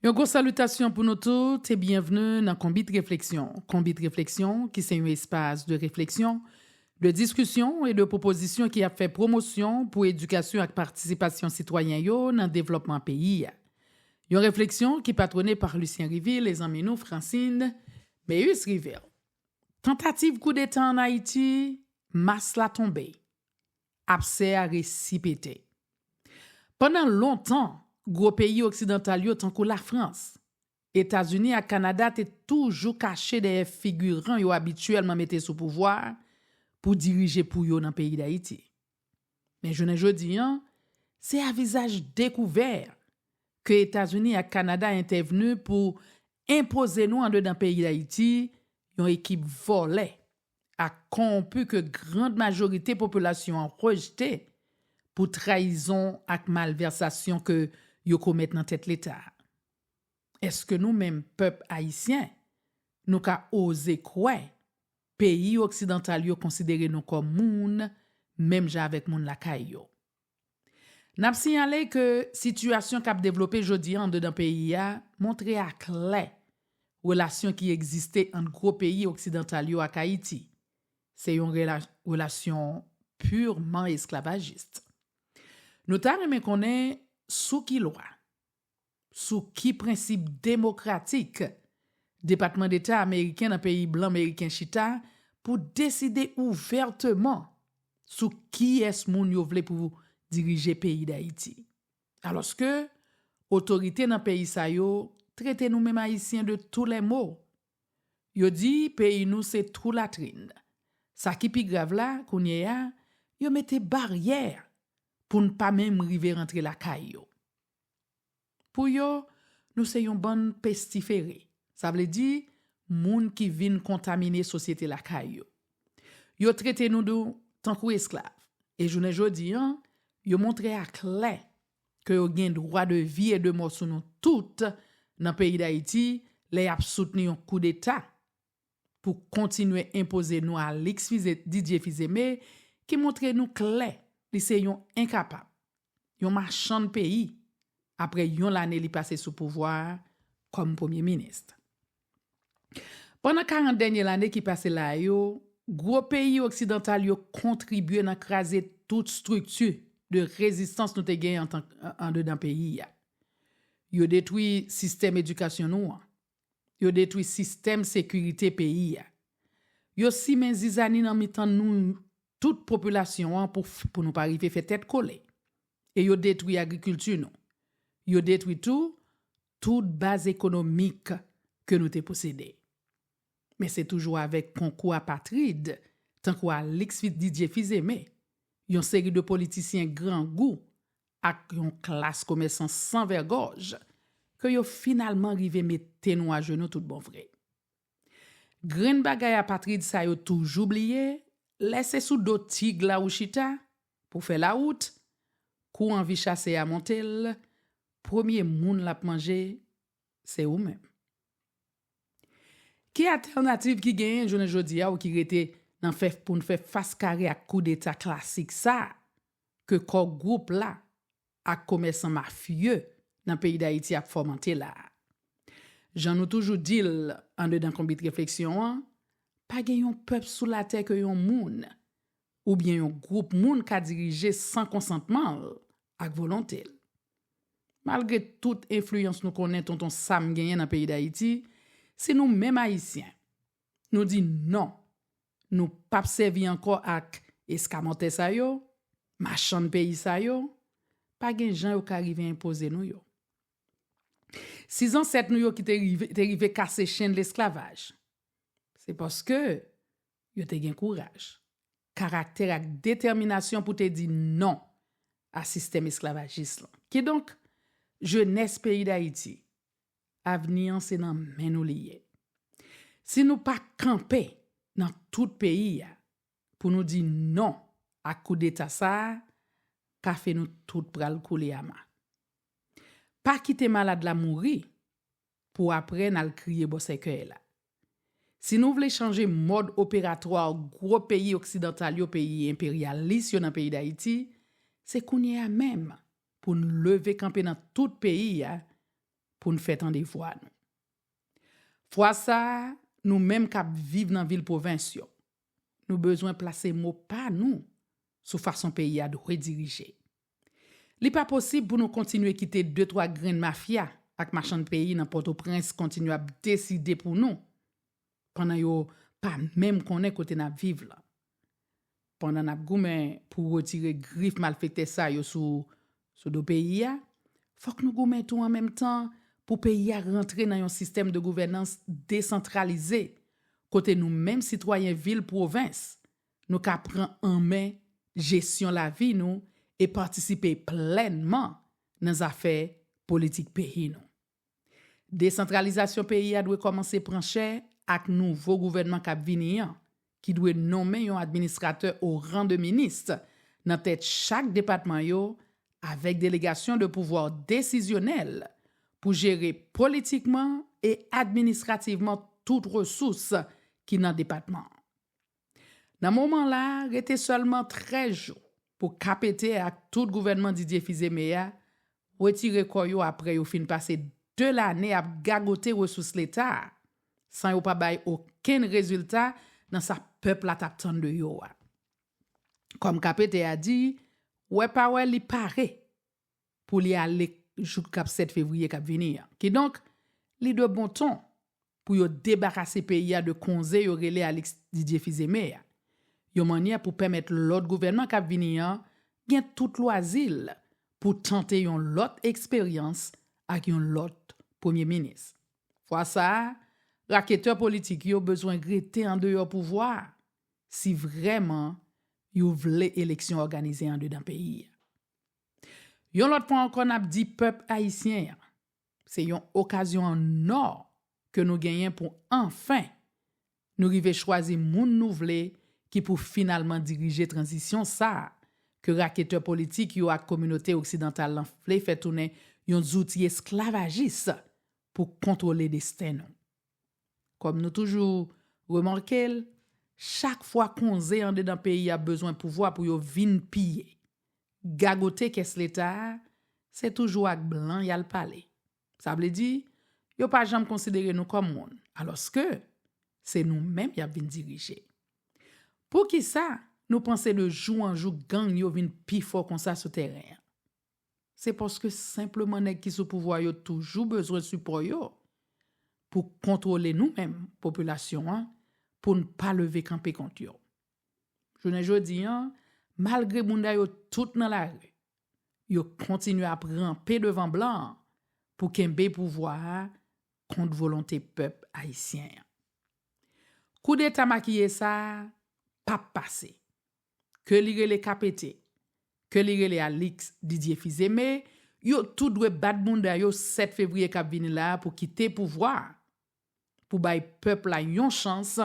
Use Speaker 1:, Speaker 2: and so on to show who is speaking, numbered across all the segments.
Speaker 1: Yon gwo salitasyon pou nou tout e byenvni nan Konbit Refleksyon. Konbit Refleksyon, ki se yon espas de refleksyon, de diskisyon e de pwopozisyon ki ap fè pwomosyon pou edikasyon ak patisipasyon sitwayen yo nan devlòpman peyi a. Yon refleksyon ki patwone pa Lucien Rivil e zanmi nou Francine Méus Rivil. Tantativ koudeta an Ayiti, mas la tonbe. Absè a resi pete. Pandan lontan, gwo peyi oksidantal yo tankou Lafrans, Etazini ak Kanada te toujou kache dèyè figiran yo abityèlman mete sou pouvwa pou dirije pou yo nan peyi Dayiti. Men jounen jodi, se a vizaj dekouvè ke Etazini ak Kanada entèvni pou enpoze nou andedan peyi Dayiti yon ekip vòlè ak konwonpi ke grand majorite popilasyon an rejte pou trayizon ak malvèsasyon ke yo komèt nan tèt leta a. Eske nou menm pèp ayisyen nou ka oze kwè peyi oksidantal yo konsidere nou kòm moun menm jan avèk moun lakay yo? Nap siyale ke sitiyasyon kap devlope jodi an andedan peyi a montre a klè relasyon ki egziste ant gwo peyi oksidantal yo ak Ayiti se yon relasyon purman esklavajist. Nou ta renmen konnen sou ki lwa. Sou ki prensip demokratik Depatman Deta Ameriken nan peyi blan Meriken chita pou deside ouvèteman sou kiyès moun yo vle pou dirije peyi Dayiti? Alòske otorite nan peyi sa yo trete nou menm Ayisyen de tou lè mo. Yo di peyi nou se twou latrin. Sa ki pi grav la, kounye a, yo mete baryè pou n pa menm rive rantre lakay yo. Pou yo, nou se yon bann pestifere, sa vle di, moun ki vin kontamine sosyete lakay yo. Yo trete nou tankou esklav, e jounen jodi an, yo montre aklè ke yo gen dwa de vi e de mò sou nou tout nan peyi Dayiti lè y ap soutni yon koudeta pou kontinye enpoze nou Alix Fize Didier Fizeme ki montre nou klè li se yon enkapab, yon machann peyi apre yon lane li pase sou pouvwa a kòm premye minis. Pandan 40 dènye lane ki pase la yo, gwo peyi oksidantal yo kontribye nan kraze tout strikti de rezistans nou te gen andedan peyi a. Yo detwi sistèm edikasyon nou an, Yo detwi sistèm sekirite peyi a. Yo simen zizani nan mitan nou tout popilasyon an pou pou nou pa rive fè tèt kole. E yo detwi agrikilti nou. Yo detwi tou tout baz ekonomik ke nou te posede. Men se toujou avèk konkou apatrid tankou Alix Didier Fils-Aimé, yon seri de politisyen grangou ak yon klas komèsan san vègòj, ke yo finalman rive mete nou ajenou tout bon vre. Grenn bagay apatrid sa yo toujou bliye, lè se sou do tig la ou chita, pou fè lawout, kou anvi chase a monte l, premye moun l ap manje, se ou menm. Ki atènativ ki genyen jounen jodi a ou ki rete nan fè pou n fè fas kare ak koudeta klasik sa, ke kò gwoup la ak komèsan mafye nan peyi Dayiti ap fòmante la a. Jan nou toujou di l andedan Konbit Refleksyon an, pa gen yon pèp sou latè ke yon moun oubyen yon gwoup moun ka dirije san konsantman l ak volonte l. Malgre tout enfliyans nou konnen Tonton Sam genyen nan peyi Dayiti, si nou menm Ayisyen, nou di non Nou pap sèvi ankò ak eskamòtè sa yo, machann peyi sa yo, pa gen jan yo ka rive enpoze nou yo. Si zansèt nou yo ki te rive te rive kase chenn lesklavaj, se paske yo te gen kouraj, karaktè ak detèminasyon pou te di non a sistèm esklavajis lan. Kidonk, jenès peyi Dayiti, avni an se nan men nou li ye. Si nou pa kanpe nan tout peyi a pou nou di non ak koudeta sa a, kafe nou tout pral koule ama. Pa kite malad la mouri pou aprè n al kriye bò sèkèy la. Si nou vle chanje mòd operatwa gwo peyi oksidantal yo peyi enperyalis yo nan peyi dayiti se kounye a menm pou n leve kanpe nan tout peyi a pou n fè tande vwa nou fwa sa a nou menm k ap viv nan vil pwovens yo nou bezwen plase mo pa nou sou fason peyi a dwe dirije. Li pa posib pou nou kontinye kite de twa grenn mafya ak machann peyi nan Pòtoprens kontinye ap deside pou nou pandan yo pa menm konnen kote n ap viv lan. Pandan n ap goumen pou retire grif malfektè sa yo sou sou do peyi a, fòk nou goumen tou an menm tan pou peyi a rantre nan yon sistèm de gouvènans desantralize kote nou menm sitwayen vil pwovens Nou ka pran an men jesyon lavi nou e patisipe plènman nan zafè politik peyi nou. Desantralizasyon peyi a dwe kòmanse pran chè ak nouvo gouvènman k ap vini an, ki dwe nonmen yon administratè o ran de minis nan tèt chak depatman yo avèk delegasyon de pouvwa desizyonèl pou jere politikman e administrativman tout resous ki nan depatman an. Nan moman la, rete sèlman 13 jou pou KPT ak tout gouvènman Didier Fils-Aimé a retire kò yo aprè yo fin pase 2 lane ap gagote resous Leta a san yo pa bay okenn rezilta nan sa pèp la t ap tann de yo a. Kòm KPT a di, wè pa wè li pare pou li ale jouk kap 7 fevriye kap vini an. Kidonk, li de bon ton pou yo debarase peyi a de konze yo rele Alix Didier Fils-Aimé a, yon mannyè pou pèmèt lòt gouvènman kap vini an gen tout lwazi l pou tante yon lòt eksperyans ak yon lòt premye minis. Fwa sa a, raketè politik yo bezwen rete andeyò pouvwa a, si vrèman yo vle eleksyon òganize andedan peyi a. Yon lòt fwa ankò n ap di pèp ayisyen an, se yon okazyon an ò ke nou genyen pou anfen nou rive chwazi moun nou vle ki pou finalman dirije tranzisyon sa a ke raketè politik yo ak kominote oksidantal lan vle fè tounen yon zouti esklavajis pou kontwole desten nou. Kòm nou toujou remake l, chak fwa konze andedan peyi a bezwen pouvwa pou yo vin piye, gagote kès leta a, se toujou ak blan y al pale. Sa vle di, yo pa janm konsidere nou kòm moun, alòske se nou menm y ap vin dirije. Poukisa nou panse de jou an jou gang yo vin pi fò konsa sou tèren an? Se paske senpleman nèg ki sou pouvwa yo toujou bezwen sipò yo pou kontwole nou menm popilasyon an pou n pa leve kanpe kont yo. Jounen jodi an, malgre bounda yo tout nan lari, yo kontinye ap ranpe devan blan an pou kenbe pouvwa a kont volonte pèp ayisyen an. Koudeta makiye sa a pap pase. ke li rele Kapete, ke li rele Alix Didier Fils-Aimé, yo tout dwe bat bounda yo 7 fevriye k ap vini la a pou kite pouvwa a, pou bay pèp la yon chans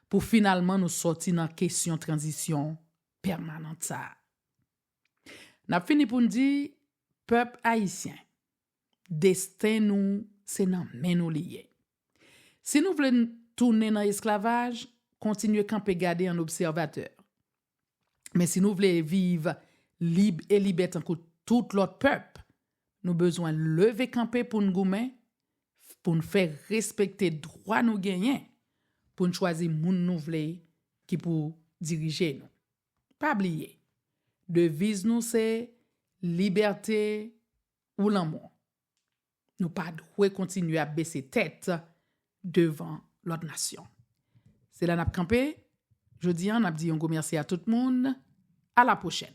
Speaker 1: pou finalman nou sòti nan kesyon tranzisyon pèmanant sa a. N ap fini pou n di, pèp ayisyen. Desten nou se nan men nou li ye. Si nou vle tounen nan esklavaj, kontinye kanpe gade an obsèvatè. Men si nou vle viv lib e libè tankou tout lòt pèp, nou bezwen leve kanpe pou n goumen, pou n fè respekte dwa nou genyen pou n chwazi moun nou vle ki pou dirije nou. Pa bliye, deviz nou se, Libète, ou lanmò. Nou pa dwe kontinye ap bese tèt devan lòt nasyon. Se la n ap kanpe jodi an, n ap di yon gwo mèsi a tout moun. A la pwochèn!